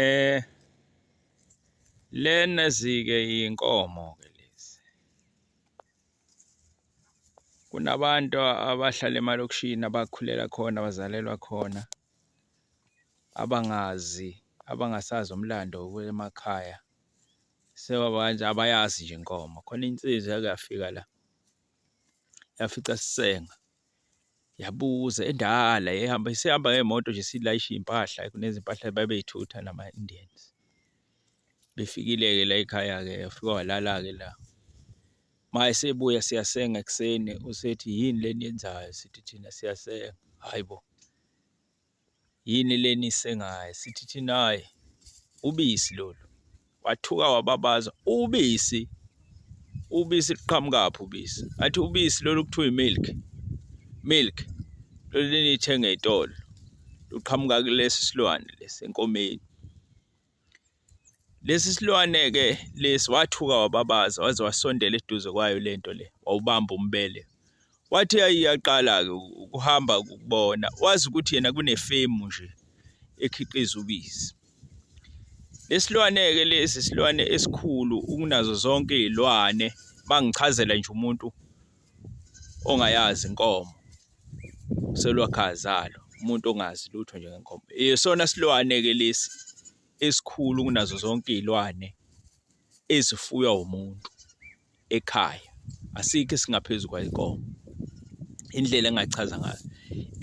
Eh lena zike inkomo ke lezi kunabantu abahlala emalokishini abakhulela khona abazalelwa khona abangazi abangasazi umlando wemakhaya sebabanje abayazi nje inkomo. Khona insizwa eyake yafika la yafica sisenga. yabuza endala ehamba isihamba ngemoto nje silayisha iy'mpahla kunezimpahla babey'thutha nama-Indians. Befikile-ke la ekhaya-ke wafika walala-ke la. Uma esebuya siyasenga ekuseni usethi yini le eniyenzayo? Sithi thina siyasenga, hhayi bo. Yini le nisengayo? Sithi thina hhayi ubisi lolu. Wathuka wababaza, ubisi? Ubisi luqhamukaphi ubisi? Athi ubisi lolu kuthiwa i-milk. Milk lolu leniyithenga ey'tolo luqhamuka kulesi silwane lesi enkomeni. Lesi silwane-ke lesi wathuka wababaza waze wasondela eduze kwayo le nto le, wawubamba umbele. Wathi yaqala-ke ukuhamba kubona, wazi ukuthi yena kunefemu nje ekhiqiza ubisi. Lesilwane-ke lesi silwane esikhulu ukunazo zonke iy'lwane, mangichazela nje umuntu ongayazi inkomo selwakhazalo umuntu ongazi lutho nje ngenkomo isona silwane ke lesi esikhulu kunazo zonke izilwane ezifuywa umuntu ekhaya asikho esingaphezulu kwayinkomo indlela engachaza ngayo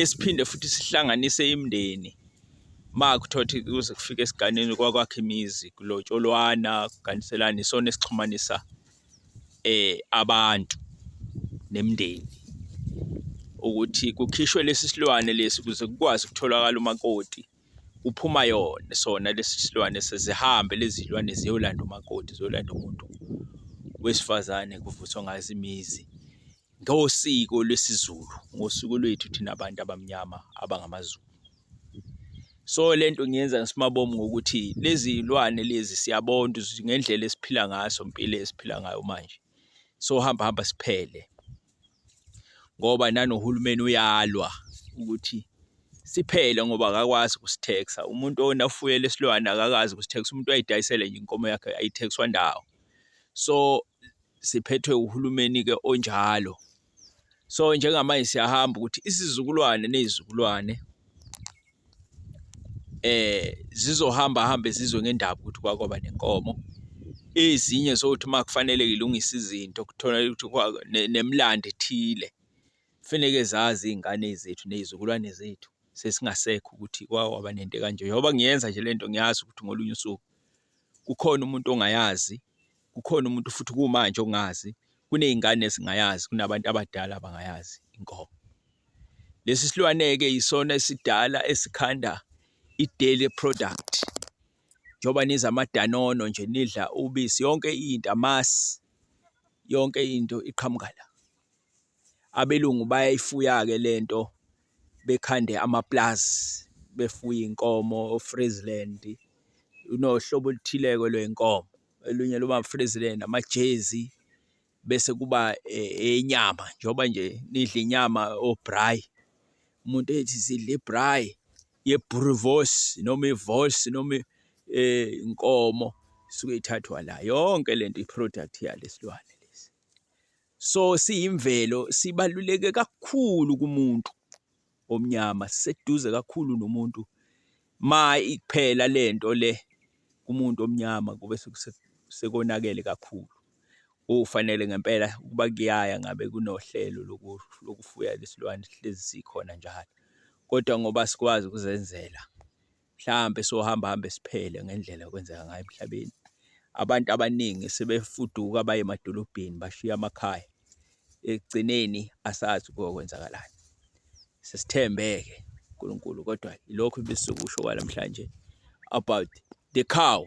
esiphinde futhi sihlanganise imndeni makuthothi kuze kufike esiganeni kwakwakhe imizi kulotsholwana kuganiselana isona esixhumanisa eh abantu nemndeni ukuthi kukhishwe lesi silwane lesi ukuze kukwazi ukutholakala umakoti kuphuma yona sona lesi silwane sezihambe lezi zilwane ziyolanda umakoti ziyolanda umuntu wesifazane kuvuthwa ngazo imizi Ngosiko lwesiZulu, ngosiko lwethu thina bantu abamnyama abangamaZulu. So le nto ngiyenza ngisimabomu ngokuthi lezi iy'lwane lezi siyabona ukuthi ngendlela esiphila ngaso impilo esiphila ngayo manje sohamba hamba siphele ngoba nanohulumeni uyalwa ukuthi siphele ngoba akakwazi ukusitheksa umuntu ona ufuyele isilwane akakazi ukusitheksa umuntu uyayidayisela nje inkomo yakhe ayithekiswa ndawo so siphethwe uhulumeni-ke onjalo. So njengamanje siyahamba ukuthi isizukulwane ney'zukulwane eh zizohamba hambe zizwe ngendaba ukuthi kwakwaba nenkomo ezinye zokuthi uma kufanele ilungise izinto kuthola ukuthi nemlando ethile kufaneke zazi iy'ngane zethu ney'zukulwane zethu sesingasekho ukuthi kwawaba nento kanje njengoba ngiyenza nje le nto ngiyazi ukuthi ngolunye usuku kukhona umuntu ongayazi kukhona umuntu futhi kumanje ongazi, kuney'ngane ezingayazi, kunabantu abadala abangayazi inkomo. Lesi silwane-ke yisona esidala esikhanda i-dairy product. Njengoba nidla amadanono nje, nidla ubisi, yonke into, amasi, yonke into iqhamuka la. Abelungu bayayifuya-ke le nto bekhande amapulazi, befuye iy'nkomo o-Friesland, unohlobo oluthile-ke lwey'nkomo. olunye luba frizile namajezi bese kuba enyama eh, njengoba nje nidla inyama obrayi umuntu ethi sidla ibrayi yebruvos noma ivos noma eh, inkomo suke ithathwa la yonke lento iproduct yalesilwane lesi so siyimvelo sibaluleke kakhulu kumuntu omnyama siseduze kakhulu nomuntu ma iphela lento le kumuntu omnyama kube sekonakele kakhulu ufanele ngempela ukuba kuyaya ngabe kunohlelo lokufuya lesilwane hlezi sikhona njalo kodwa ngoba sikwazi ukuzenzela mhlampe sohamba hambe siphele ngendlela okwenzeka ngayo emhlabeni. Abantu abaningi sebefuduka baye emadolobheni bashiya amakhaya. Ekugcineni asazi kokwenzakalani. Sesithembeke uNkulunkulu kodwa ilokho ebesizokusho kwalamhlanje about the cow.